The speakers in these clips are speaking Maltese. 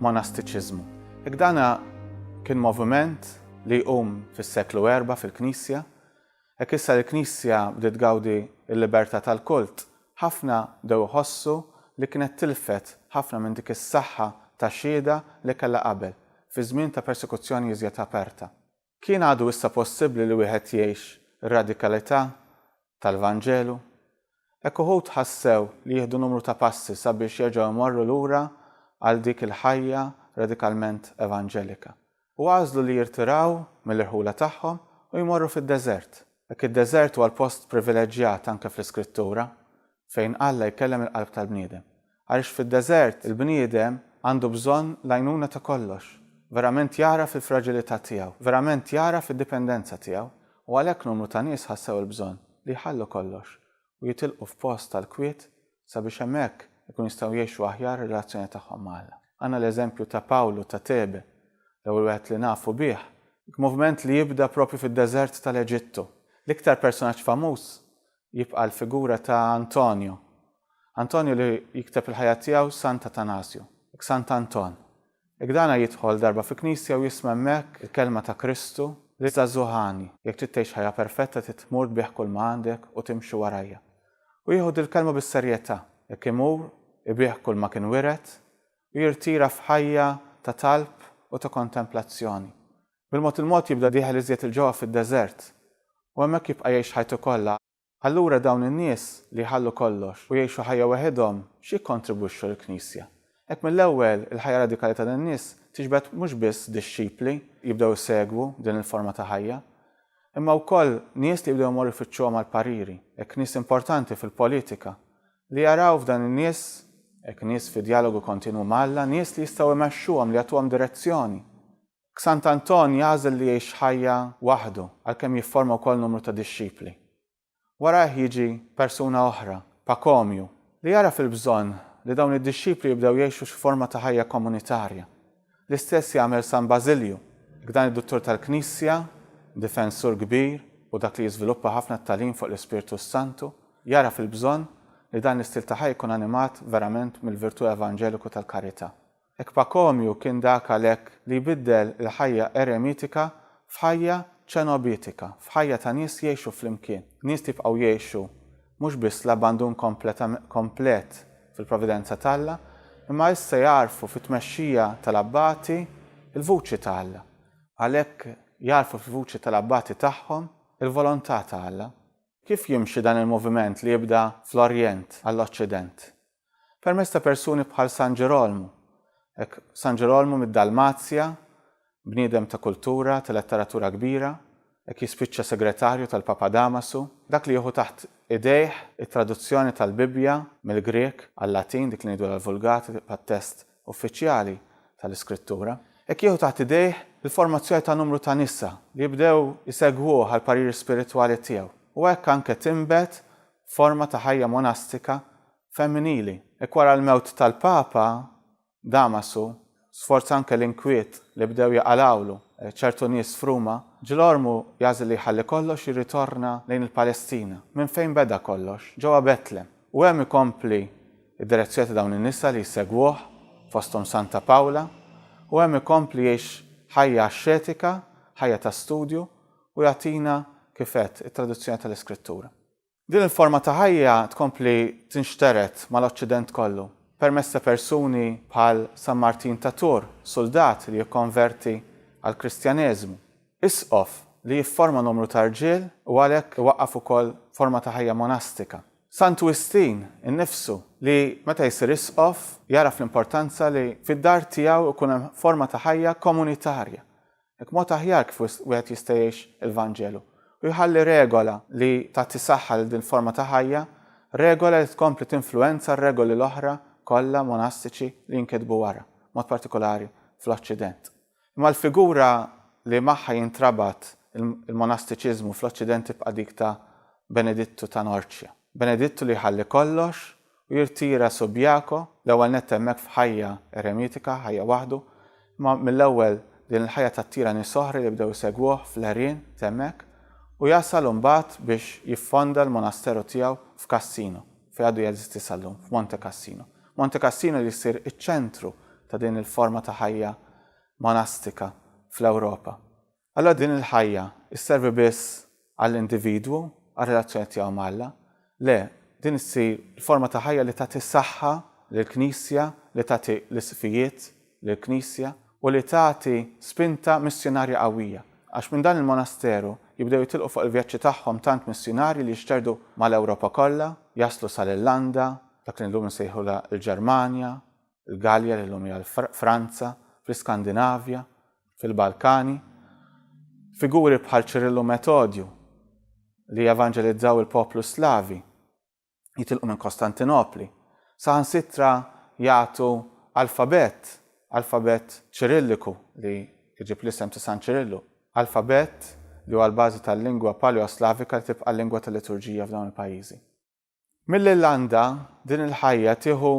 monastiċiżmu. Jekk dan kien moviment li jqum fis-seklu erba' fil-Knisja, hekk issa li l-Knisja bdiet tgawdi l-libertà tal-kult, ħafna bdew iħossu li kienet tilfet ħafna minn dik is-saħħa ta' xhieda li kellha qabel, fi żmien ta' persekuzzjoni iżjed aperta. Kien għadu issa possibbli li wieħed jgħix ir-radikalità tal-Vanġelu? Hekk uħud ħassew li jieħdu numru ta' passi sabiex jerġgħu jmorru lura għal dik il-ħajja radikalment evanġelika. U għażlu li jirtiraw mill-irħula tagħhom u jmorru fid-deżert. Hekk id-deżert huwa l-post privileġġjat anke fl-Iskrittura, fejn Alla jkellem il-qalb tal-bniedem. Għaliex fid-deżert il-bniedem għandu bżonn l-għajnuna ta' kollox, verament jagħraf il-fraġilità tiegħu, verament jagħraf id-dipendenza tiegħu, u għalhekk numru ta' nies ħassew il-bżonn li jħallu kollox u jitilqu f'post tal-kwiet sabiex hemmhekk ikunu jistgħu jgħixu aħjar ir-relazzjoni tagħhom ma' Alla. Għandna l-eżempju ta' Pawlu ta' Tebe, l-ewwel wieħed li nafu bih, moviment li jibda proprju fid-deżert tal-Eġittu. L-iktar personaġġ famuż jibqa' l-figura ta' Antonio. Antonio li jikteb il-ħajja tiegħu Sant Atanasju, ek Sant Anton. Jekk dana jidħol darba fi knisja u jisma' hemmhekk il-kelma ta' Kristu, li żagħżugħ għani, jekk trid tgħix ħajja perfetta trid tmur tbigħ kull ma għandek u timxi warajja. U jieħu dil-kelma bis-serjetà, jekk imur ibigħ kull ma kien wiret u jirtira f'ħajja ta' talb u ta' kontemplazzjoni. Bil-mod il-mod jibda dieħel iżjed 'il ġewwa fid-deżert, u hemmhekk jibqa' jgħix ħajtu kollha. Allura dawn in-nies li jħallu kollox u jgħixu ħajja weħidhom x'jikkontribwixxu lill-Knisja? Hekk mill-ewwel, il-ħajja radikali ta' dan nies tiġbed mhux biss dixxipli jibdew isegwu din il-forma ta' ħajja, imma wkoll nies li jibdew imorru jfittxuhom għall-pariri, hekk nies importanti fil-politika, li jaraw f'dan in-nies, hekk nies fi djalogu kontinwu ma' Alla, nies li jistgħu imexxuhom, li jagħtuhom direzzjoni, X'Sant'Anton jagħżel li jgħix ħajja waħdu għalkemm jifforma wkoll numru ta' dixxipli. Warajh jiġi persuna oħra, Pakomju, li jagħraf il-bżonn li dawn id-dixxipli jibdew jgħixu xi forma ta' ħajja komunitarja. L-istess jagħmel San Bażilju, dan id-Duttur tal-Knisja, difensur kbir u dak li jiżviluppa ħafna t-tagħlim fuq l-Ispirtu s-Santu, jagħraf il-bżonn li dan l-istil ta' ħajja jkun animat verament mill-virtù evanġeliku tal-karità. Hekk Pakomju kien dak għalhekk li jbiddel il-ħajja eremitika f'ħajja ċenobitika, f'ħajja ta' nies jgħixu flimkien, nies li jibqgħu jgħixu mhux biss l-abbandun komplet fil-providenza t'Alla, imma issa jagħrfu fit-tmexxija tal-abbati l-vuċi ta' Alla. Għalhekk jagħrfu fil-vuċi tal-abbati tagħhom il-volontà ta' Alla. Kif jimxi dan il-moviment li jibda fl-Orjent għall-Oċċident? permezz ta' persuni bħal San Ġerolmu, hekk San Ġerolmu mid-Dalmazja, bniedem ta' kultura, ta' letteratura kbira, hekk jispiċċa segretarju tal-Papa Damasu, dak li jieħu taħt idejh it-traduzzjoni tal-Bibbja mill-Grieg għal-Latin, dik li ngħidulha l-Vulgata, tibqa' t-test uffiċjali tal-Iskrittura, hekk jieħu taħt idejh il-formazzjoni ta' numru ta' nisa li jibdew isegwuh għall-pariri spiritwali tiegħu, u hekk anke tinbet forma ta' ħajja monastika femminili. Hekk wara l-mewt tal-Papa, Damasu, sforza anke l-inkwiet li bdew jaqalgħulu ċertu nies f'Ruma, Ġilormu jagħżel li jħalli kollox jirritorna lejn il-Palestina, minn fejn beda kollox, ġewwa Betlem, u hemm ikompli d-direzzjoni ta' dawn in-nisa li jsegwuh, fosthom Santa Pawla, u hemm ikompli jgħix ħajja axxetika, ħajja ta' studju, u jagħtina, kif għedt, it-traduzzjoni tal-Iskrittura. Din il-forma ta' ħajja tkompli tinxtered mal-Oċċident kollu, permezz ta' persuni bħal San Martin ta' Tours, suldat li jikkonverti għall-Kristjaneżmu, isqof li jifforma numru ta' rġiel u għalhekk iwaqqaf ukoll forma ta' ħajja monastika, Sant Wistin innifsu li meta jsir isqof jagħraf l-importanza li fid-dar tiegħu jkun hemm forma ta' ħajja komunitarja Hekk mod aħjar kif wieħed jista' jgħix il-Vanġelu u jħalli regola li tagħti saħħa lil din forma ta' ħajja, regola li tkompli tinfluwenza r-regoli l-oħra kollha monastiċi li jinkitbu wara, b'mod partikolari fl-Oċċident. Imma l-figura li magħha jintrabat il-monastiċiżmu fl-Oċċident tibqa' dik ta' Benedittu ta' Norċja. Benedittu li jħalli kollox u jirtira Subiaco, l-ewwel nett hemmhekk f'ħajja eremitika, ħajja waħdu, imma mill-ewwel din il-ħajja tattira nies oħra li bdew isegwuh fl-għerien t'hemmhekk u jasal imbagħad biex jiffonda l-monasteru tiegħu f'Cassino, fejn għadu jeżisti sal-lum, f'Monte Cassino. Monte Cassino li jsir iċ-ċentru ta' din il-forma ta' ħajja monastika fl-Ewropa. Allura din il-ħajja sservi biss għall-individwu, għar-relazzjoni tiegħu ma' Alla? Le, din issir forma ta' ħajja li tagħti saħħa lill-Knisja, li tagħti l-isqfijiet lill-Knisja, u li tagħti spinta missjunarja qawwija. Għax minn dan il-monasteru jibdew jitilqu fuq il-vjaġġi tagħhom tant missjunarji li jixterdu mal-Ewropa kollha, jaslu sal-Irlanda, dak li llum insejħulha l-Ġermanja, il-Gallia li llum hija l-Franza, fl-Iskandinavja, fil-Balkani. Figuri bħal Ċirillu Metodju li evanġelizzaw il-poplu Slavi jitilqu minn Kostantinopli, saħansitra jagħtu alfabett, alfabett Ċirilliku li jġib l-isem ta' San Ċirillu, alfabett li huwa l-bażi tal-lingwa Paleoslavika li tibqa' l-lingwa tal-liturġija f'dawn il-pajjiżi. Mill-Irlanda, din il-ħajja tieħu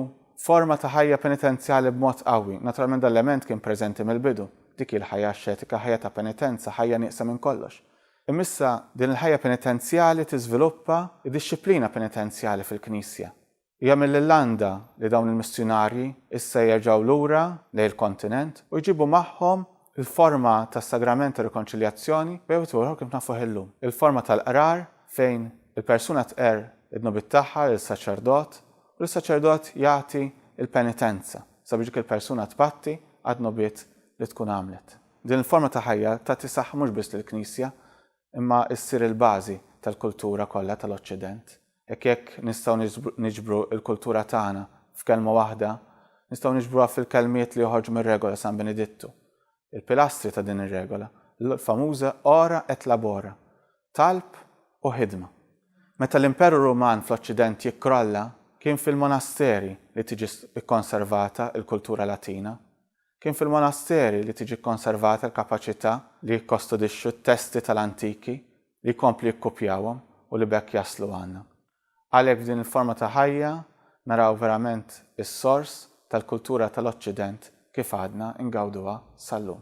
forma ta' ħajja penitenzjali b'mod qawwi. Naturalment dan l-element kien preżenti mill-bidu. Dik hi l-ħajja axxetika, ħajja ta' penitenza, ħajja nieqsa minn kollox. Imma issa din il-ħajja penitenzjali tiżviluppa d-dixxiplina penitenzjali fil-Knisja. Hija mill-Irlanda li dawn il-missjunarji issa jerġgħu lura lejn il-kontinent u jġibu magħhom il-forma tas-Sagrament tar-Rikonċiljazzjoni, b'wieħed ieħor kif nafuh illum, il-forma tal-Qrar fejn il-persuna tqerr id-dnubiet tagħha lis-saċerdot u li s-saċerdot jagħti l-penitenza sabiex dik il-persuna tpatti għad-dnubiet li tkun għamlet. Din il-forma ta' ħajja tagħti saħħa mhux biss lill-Knisja imma ssir il-bażi tal-kultura kollha tal-Oċċident. Hekk jekk nistgħu niġbru l-kultura tagħna f'kelma waħda, nistgħu niġbruha fil-kelmiet li joħorġu mir-Regola San Benedittu, Il-pilastri ta' din ir-regola, l-famuża ora et labora, talb u ħidma. Meta l-Imperu Ruman fl-Oċċident jikkrolla, kien fil-monasteri li tiġi kkonservata l-kultura Latina. Kien fil-monasteri li tiġi kkonservata l-kapaċità li jikkostudixxu t-testi tal-antiki, li jkomplu jikkupjawhom u li b'hekk jaslu għandna. Għalhekk f'din il-forma ta' ħajja naraw verament is-sors tal-kultura tal-Oċċident kif għadna ngawduha sal-lum.